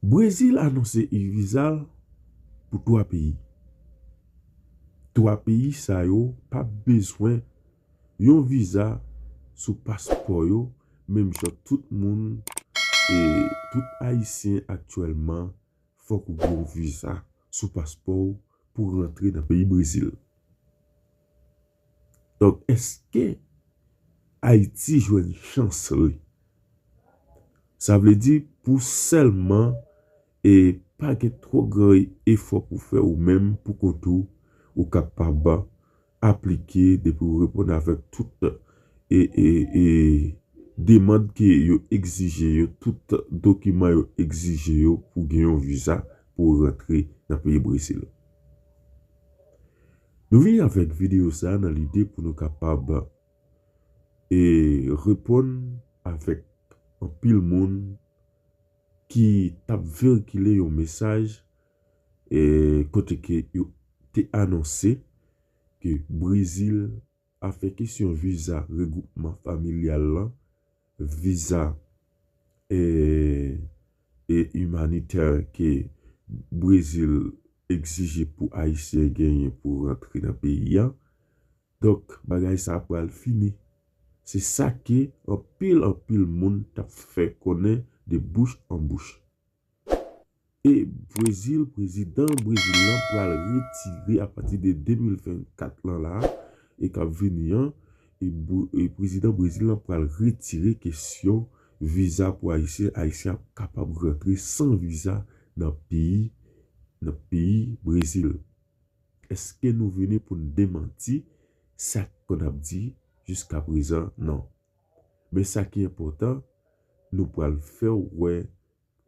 Brezil anonse e-viza l pou 3 peyi. 3 peyi sa yo pap bezwen yon viza sou paspò yo menm jan tout moun tout ayisyen aktyèlman fòk ou gen yon viza sou paspò w pou rantre nan peyi Brezil. Donk eske Ayiti jwenn chans li? Sa vle di pou sèlman e pa gen twò gran efò pou fè ou menm pou kont ou, ou kapab aplike depi ou reponn avèk tout e demand ke yo egzije yo, tout dokiman yo egzije yo pou gen yon viza pou rantre nan peyi Brezil. Nou vini avèk videyo sa nan lide pou nou kapab e reponn avèk anpil moun ki tap verikile yon mesaj e kote ke yo te anonse ke Brezil afè kesyon viza regwoupman familyal lan, viza e imanitè ke Brezil egzije pou ayisyen genyen pou rantre nan peyi a. Donk bagay sa pral fini. Se sa ke anpil anpil moun tap fè konnen de bouch an bouch. E Brezil, prezidan Brezil lan pral retire apati de 2024 lan la e kap vini an, e prezidan Brezil lan pral retire kesyon viza pou ayisyen, ayisyen ap kapab rantre san viza nan peyi nan peyi Brezil. Eske nou vini poun demanti sak konn ap di jiska prezan? Non. Men sa ki enpòtan, nou pral fè w wè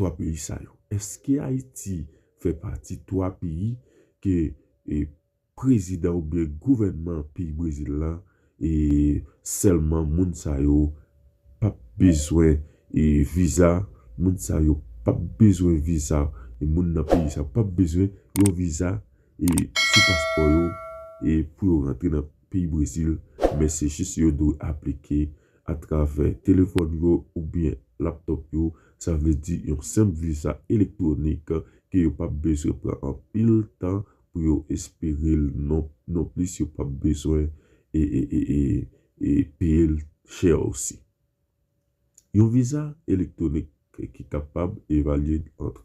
3 peyi sa yo. Eske Ayiti fè pati 3 peyi ke prezidan oubyen gouvènman peyi Brezil lan e sèlman moun sa yo p ap bezwen viza, moun sa yo p ap bezwen viza, moun nan peyi sa yo p ap bezwen yon viza sou paspò yo pou yo rantre nan. peyi Brezil men se jis yo dwe aplike atravè telefòn yo oubyen laptop yo sa vle di yon senp viza elektwonik ke yo pap bezwen pran anpil tan pou yo esperel non non plis yo pap bezwen e e e e peyel chè osi. Yon viza elektwonik ki kapab evalye ant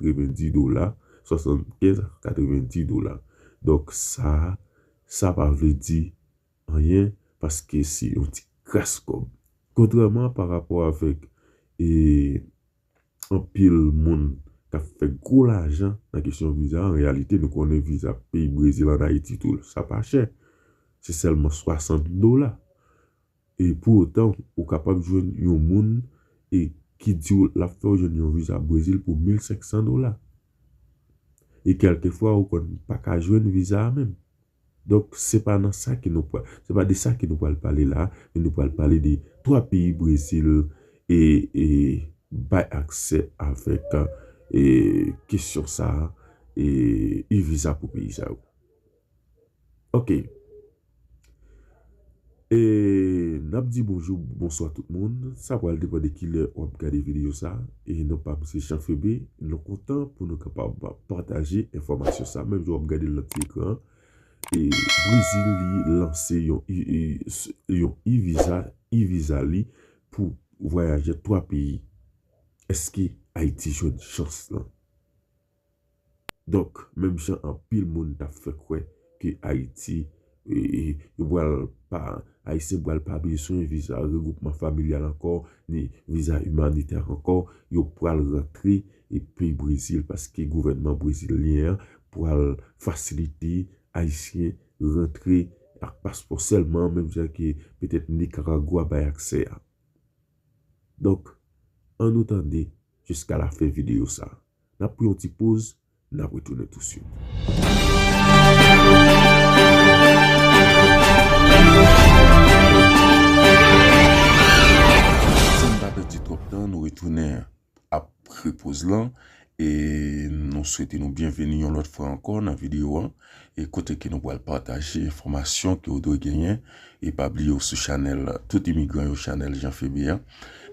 90 dola, 75 a 90 dola. Donk sa a, sa pa vle di anyen paske se yon ti kras kòb. Kontrèman pa rapò avèk e anpil moun k ap fè gwo lajan nan kesyon viza, an reyalite nou konnen viza peyi Brezil an Ayiti tou sa pa chè. Se sèlman 60 dola. E pou otan, ou kapab jwenn yon moun e ki di w l ap fè w jwenn yon viza Brezil pou 1500 dola. E kèlke fwa ou konn pa ka jwenn viza a menm. Donk, se pa nan sa ke nou pral, se pa de sa ke nou pral pale la a, men nou pral pale de 3 peyi Brezil e e bay aksè avèk e kesyon sa a e e-viza pou peyi sa yo. Ok Eee nap di bonjou bonswa tout moun sa pral depan de kilè wap gade video sa e non pam se Jean Phebe nou kontan pou nou kapab pataje enfòmasyon sa menm jan wap gadel nan ti ekran an e brezil li lanse yon yon e-viza e-viza li pou vwayaje 3 peyi eske ayiti jwenn chans lan. Donk, menm jan anpil moun t ap fè kwè ke Ayiti, yo pral pa, Ayisyen pral pa bezwen viza regwoupman familyal ankò, ni viza imanitè ankò, yo pral rantre peyi Brezil paske gouvènman brezilyen an pral fasilite Ayisyen rantre ak paspò sèlman menm jan ke petèt Nikaragwa bay aksè a. Donk, annou tande jiska lafen videyo sa a. N ap pran yon ti poz, n ap retounen tousuit. San n pa pèdi twòp tan, nou retounen apre poz lan. E nou swete nou byenveni yon lòt fwa ankò nan videyo an. e kote ke nou pral pataje enfòmasyon ke ou dwe genyen e pa bliye ou sou chanèl tout imigran yo chanèl Jean Phebe an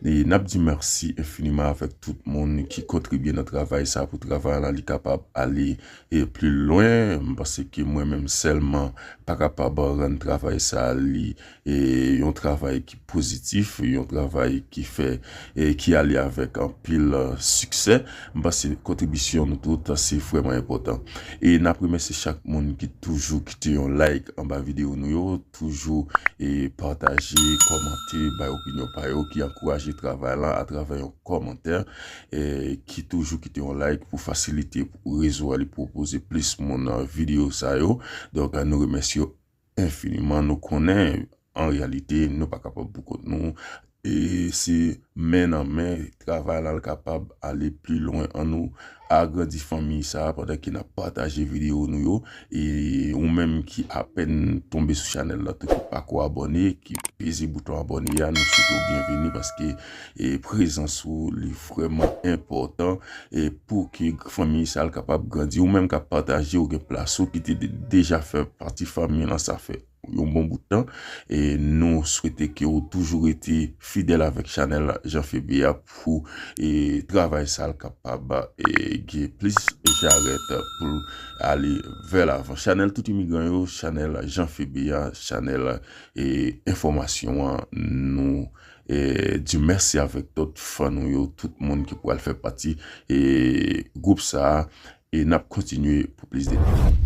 e nap di mèsi enfiniman avèk tout moun ki kontribye nan travay sa pou travay la li kapab ale e pli lwen m panse ke mwen menm sèlman pa kapab rann travay sa li E yon travay ki pozitif, yon travay ki fè, ki ale avèk anpil siksè. M panse kontribisyon nou tout se vrèman enpòtan. E n ap remèsye chak moun ki toujou kite yon like anba videyo nou yo, toujou e pataje, kòmante, bay opinyon pa yo, ki ankouraje travay lan atravè yon kòmantè, ki toujou kite yon like pou fasilite pou rezo a li pwopoze plis moun videyo sa yo. Donk nou remèsye Enfiniman nou konnen an reyalite nou pa kapab pou kont nou e se men nan men travay la kapab ale pli lwen an nou agrandi fanmi sa pandan ke nap pataje video nou yo e ou menm ki apèn tonbe sou chanèl la tou ki pako abòne ki peze bouton abòne a nou swete w byenvini paske e prezans ou li vreman enpotan e pou ki fanmi sa al kapab grandi ou menm kap pataje ou gen plas ou ki te deja fè pati fanmi lan sa fè yon bon bout tan e nou swete ke ou toujou rete fidèl avèk chanèl Jean Phebe a pou e travay sa al kapab e gen plis jarèt poul ale vè lavan chanèl tout imigran yo chanèl Jean Phebe a chanèl e enfòmasyon an nou. di mèsi avèk tout fan nou yo, tout moun ki pral fè pati e gwoup sa a e n ap kontinye pou plis detay.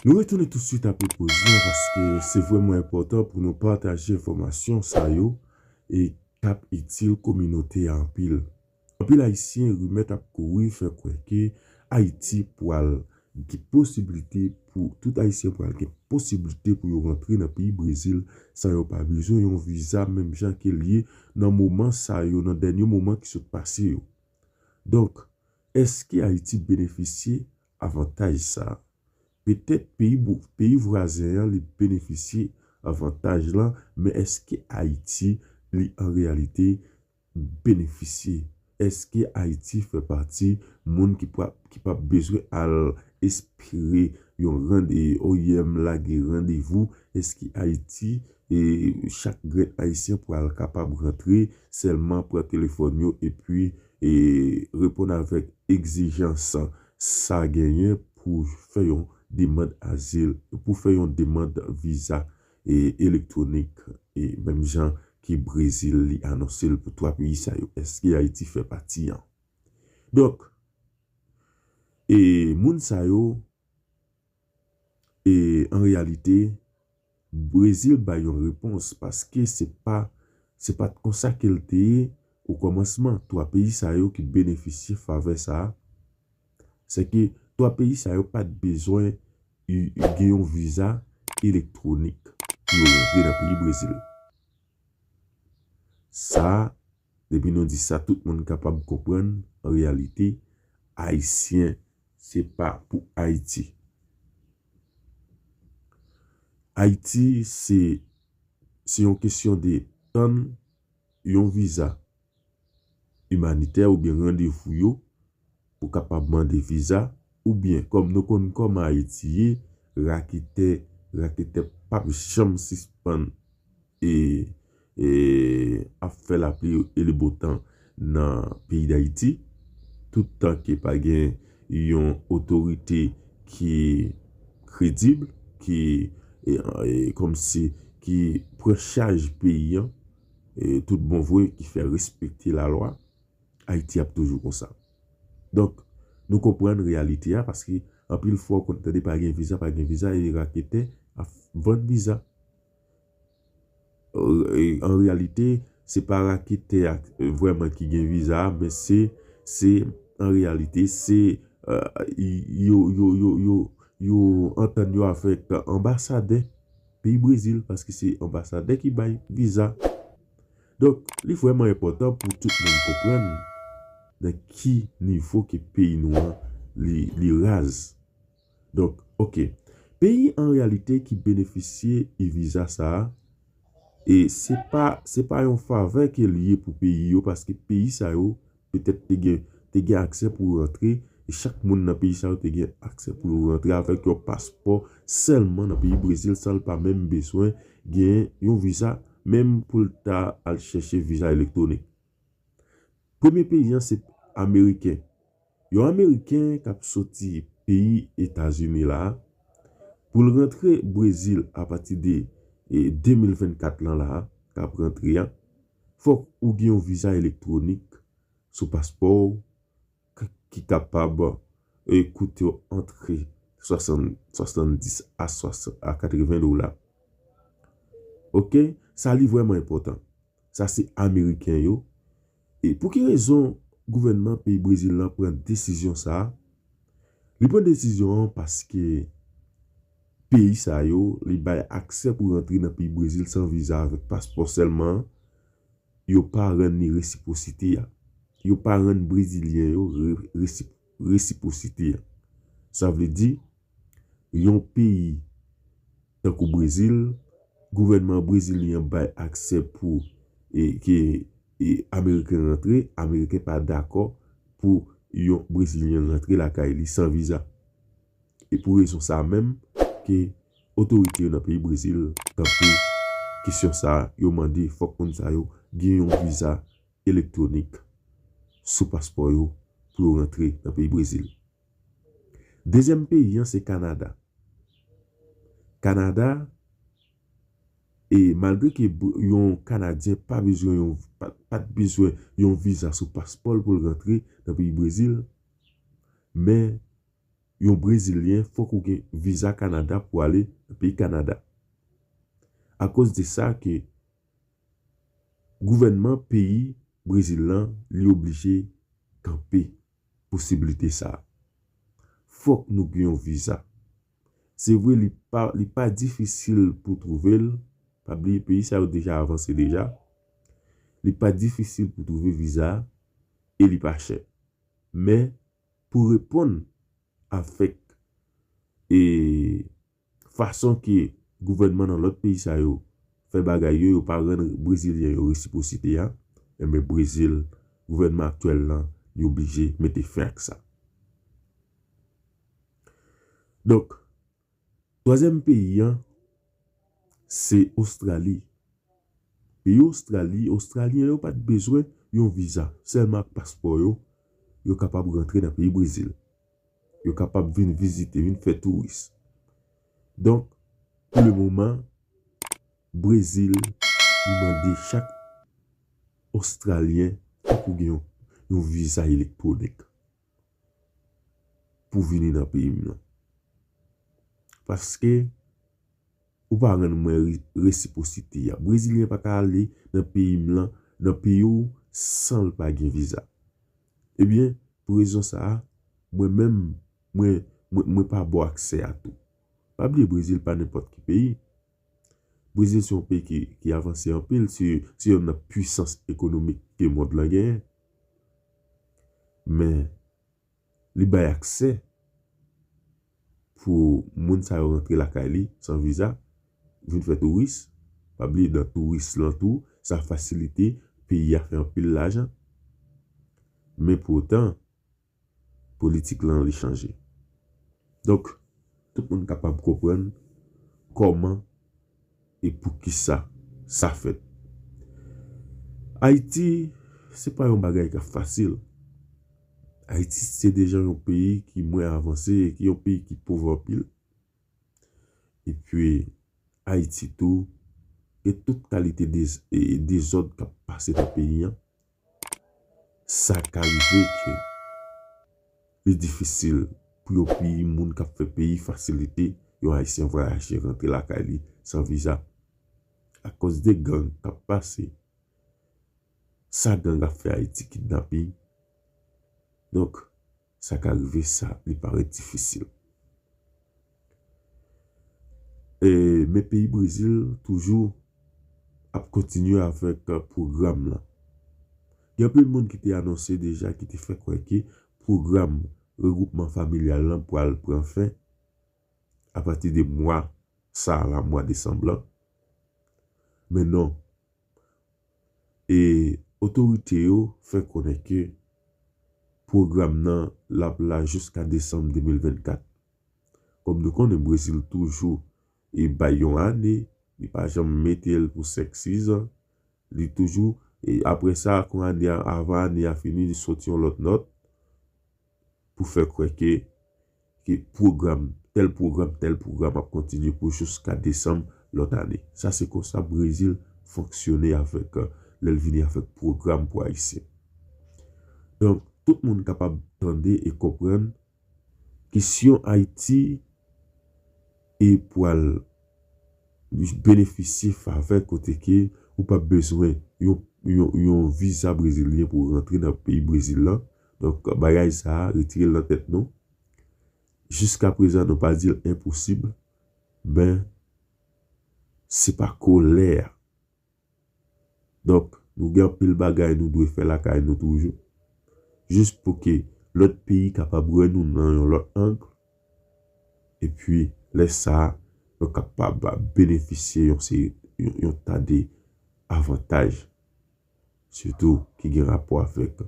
Nou retounen touswit apre poz lan paske se vrèman enpòtan pou nou pataje enfòmasyon sa yo e k ap itil kominote a anpil. Anpil Ayisyen rimè t ap kouri fè kwè ke Ayiti pwal gen posiblite pou tout Ayisyen pwal gen posiblite pou yo rantre nan peyi Brezil san yo pa bezwen yon viza menm jan ke l ye nan moman sa yo nan dènye moman ki sot pase yo. Donk, èske Ayiti benefisye avantaj sa a? Petèt peyi vwazen an li benefisye avantaj lan, men èske Ayiti li an reyalite benefisye? Èske Ayiti fè pati moun ki p ap bezwen al espere yon rande oyèm lage randevou? Èske Ayiti e chak grenn ayisyen pral kapab rantre sèlman pran telefòn yo epi e reponn avèk egzijans sa genyen pou fè yon demand azil pou fè yon demand viza e elektwonik e menm jan ke brezil li anonse l pou 3 peyi sa yo eske ayiti fè pati an donk e moun sa yo. E an reyalite, Brezil bay yon repons paske se pa se pa t konsa ke l te ye okòmansman. Twa peyi sa yo ki benefisye favè sa a, sèke twa peyi sa yo pa t bezwen gen yon viza elektwonik pou yo rantre nan peyi Brezil. Sa. Depi nou di sa tout moun kapab konprann an reyalite Ayisyen se pa pou Ayiti. Ayiti se se yon kesyon de tann yon viza imanitè oubyen randevou yo Ou kapab mande viza oubyen kòm nou konn kòman ayiti ye raketè raketè pap janm sispann e e ap fè lapli e le botan nan peyi dayiti tout tan ke pa gen yon otorite ki kredib ki e kòm si ki pran chaj peyi an e tout bon vre ki fè respekte lalwa. Ayiti ap toujou konsa. Donk, nou konprann reyalite a paske anpil fwa ou konn tande pa gen viza, pa gen viza e raketè ap vann viza. An reyalite, se pa raketè a vrèman ki gen viza a men se, se an reyalite se yo, yo, yo, yo, yo antann yo avèk anbasadè peyi Brezil paske se anbasadè ki bay viza. Donk, li vrèman enpòtan pou tout moun konprann nan ki nivo ke peyi nou an li raz. Donk, ok, peyi an reyalite ki benefisye e-viza sa a, e se pa yon favè ke li ye pou peyi yo paske peyi sa yo, petèt te gen te gen aksè pou yo rantre e chak moun nan peyi sa yo te gen aksè pou yo rantre avèk yon paspò sèlman nan peyi Brezil san l pa menm bezwen gen yon viza menm pou l ta al chèche viza elektwonik. Premye peyi an se ameriken. Yon ameriken k ap soti peyi Etazini la a pou l rantre Brezil apati de 2024 lan la a k ap rantre a Fòk ou gen yon viza elektwonik sou paspò w k ki kapab koute w antre 70 a 80 dola. Ok, sa li vrèman enpòtan. Sa se ameriken yo. E pou ki rezon gouvènman peyi Brezil lan pran desizyon sa a? Li pran desizyon an paske peyi sa yo, li bay aksè pou rantre nan peyi Brezil san viza avèk paspò sèlman an, yo pa rann li resipwosite a. Yo pa rann Brezilyen yo resipwosite a. Sa vle di, yon peyi tankou Brezil, gouvènman brezilyen an bay aksè pou ke ameriken rantre, ameriken pa dakò pou yon brezilyen rantre lakay li san viza. E pou rezon sa menm ke otorite yo nan peyi Brezil tanpe kesyon sa, yo mande fòk moun sa yo gen yon viza elektwonik sou paspò yo pou yo rantre nan peyi Brezil. Dezyèm peyi an se Kanada. Kanada, e malgre ke yon kanadyen pa bezwen yon, pat bezwen yon viza sou paspò l pou l rantre nan peyi Brezil, men yon brezilyen fòk ou gen viza Canada pou ale nan peyi Canada. A koz de sa ke gouvènman peyi Brezil lan li oblije kanpe posibilite sa. Fòk nou gen yon viza. Se vre li pa li pa difisil pou twouve l, pa bliye peyi sa yo deja avanse deja, li pa difisil pou twouve viza e li pa chè. Men pou reponn avèk e fason ke gouvènman nan lòt peyi sa yo fè bagay yo, yo pa rann brezilyen yo resiprosite a, enben Brezil, gouvènman aktyèl lan li oblije mete fen ak sa. Donk, Twazyèm peyi an se Ostrali. Peyi Ostrali, Ostralyen yo pa t bezwen yon viza. Sèlman ak paspò yo, yo kapab rantre nan peyi Brezil. Yo kapab vin vizite, vin fè touris. Donk, pou le moman, Brezil li mande chak Ostralyen fòk ou gen yon viza elektwonik. pou vini nan peyi m nan. Paske ou pa rann mwen resiposite a. Brezilyen pa ka ale nan peyi m lan, nan peyi w san l pa gen viza. Ebyen, pou rezon sa a, mwen menm, mwen pa ba w aksè a tou. Pa bliye Brezil pa nenpòt ki peyi. Brezil se yon peyi ki ki avanse anpil se se yonn nan pwisans ekonomik ke mond lan genyen men li bay aksè pou moun sa yo rantre lakay li san viza vin fè touris pa bliye nan touris lan tou sa fasilite peyi a fè anpil lajan men pou otan politik lan li chanje. Donk, tout moun kapab konprann kòman e poukisa sa fèt. Ayiti, se pa yon bagay k ap fasil. Ayiti se deja yon peyi ki mwen avanse e ki yon peyi ki pov anpil. E pi, Ayiti tou, gen tout kalite dezòd k ap pase nan peyi an. sa ka rive ke li difisil pou yo peyi moun kap fè peyi fasilite yon ayisyen vwayaje rantre lakay li san viza akoz de gang kap pase sa gang ap fè ayiti kidnaping donk Sa ka rive sa li parèt difisil. Men peyi Brezil toujou ap kontinye avèk pwogram lan. Gen anpil moun ki te anonse deja ki te fè kwè ke pwogram regwoupman familyal lan pral pran fen apati de mwa sa la, mwa desanm lan. Men non. e otorite yo fè konnen ke pwogram nan l ap la jiska desanm 2024. Kòm nou konnen Brezil toujou e bay yon ane, li pa janm mete l pou 5, 6 an, li toujou e aprè sa kon ane a avan ane a fini li soti yon lòt nòt. pou fè kwè ke ke pwogram, tèl pwogram, tèl pwogram ap kontinye pou jouska desanm lòt ane. Sa se konsa Brezil fonksyone avèk lè l vini avèk pwogram pou Ayisyen. Donk, tout moun kapab tande e konprann kesyon Ayiti e pwal benefisye favè kote ke ou pap bezwen yon yon yon viza brezilyen pou rantre nan peyi Brezil lan, Donk bagay sa a retire l nan tèt nou. Jiska prezan nou pa di l enposib men se pa ko lè a. Donk nou gen anpil bagay nou dwe fè lakay nou toujou jis pou ke lòt peyi kapab wè nou nan yon lòt ang epi lè sa a nou kapab benefisye yon seri yon ta de avantaj sitou ki gen rapò avèk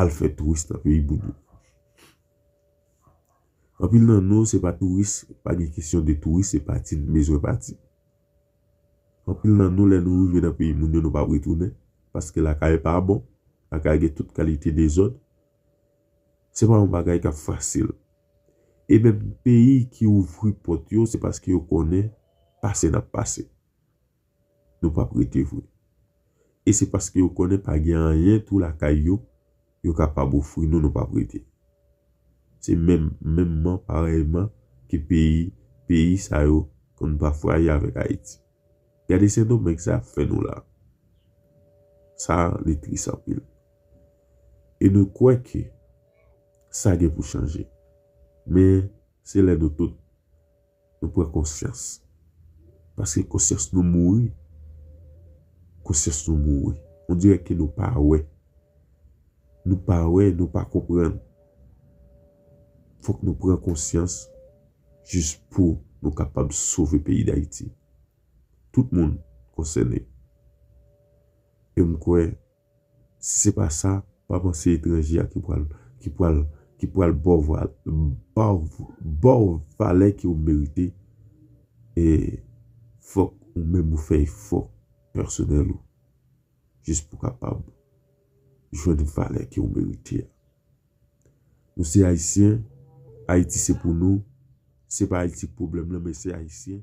al fè touris nan peyi moun yo. Anpil nan nou se pa touris, pa gen kesyon de touris se pati n bezwen pati. Anpil nan nou lè nou rive nan peyi moun yo nou pa retounen paske lakay pa bon, lakay gen tout kalite dezòd. Se pa yon bagay k ap fasil e menm peyi ki ouvri pòt yo se paske yo konnen pase n ap pase. Nou pap rete vre. E se paske yo konnen pa gen anyen tou lakay yo, yo kapab ofri nou nou pap rete. Se menm menmman parèyman ke peyi peyi sa yo konn bafwaye avèk Ayiti. Gade Sendomeng sa ap fè nou la. Sa li tris anpil. E nou kwè ke sa gen pou chanje. Men se lè nou tout. Nou pran konsyans. Paske konsyans nou mouri. Konsyans nou mouri. On dirè ke nou pa wè. Nou pa wè, nou pa konprann. Fòk nou pran konsyans jis pou nou kapab sove peyi Dayiti. Tout moun konsène. E m kwè. Si se pa sa, pa panse etranje a ki pral ki pral ki pral baw va baw baw valè ke ou merite e fòk ou menm ou fè efò pèsonèl ou jis pou kapab jwenn valè ke ou merite a. Nou se ayisyen, Ayiti se pou nou, se pa Ayiti k pwoblèm lan men se ayisyen.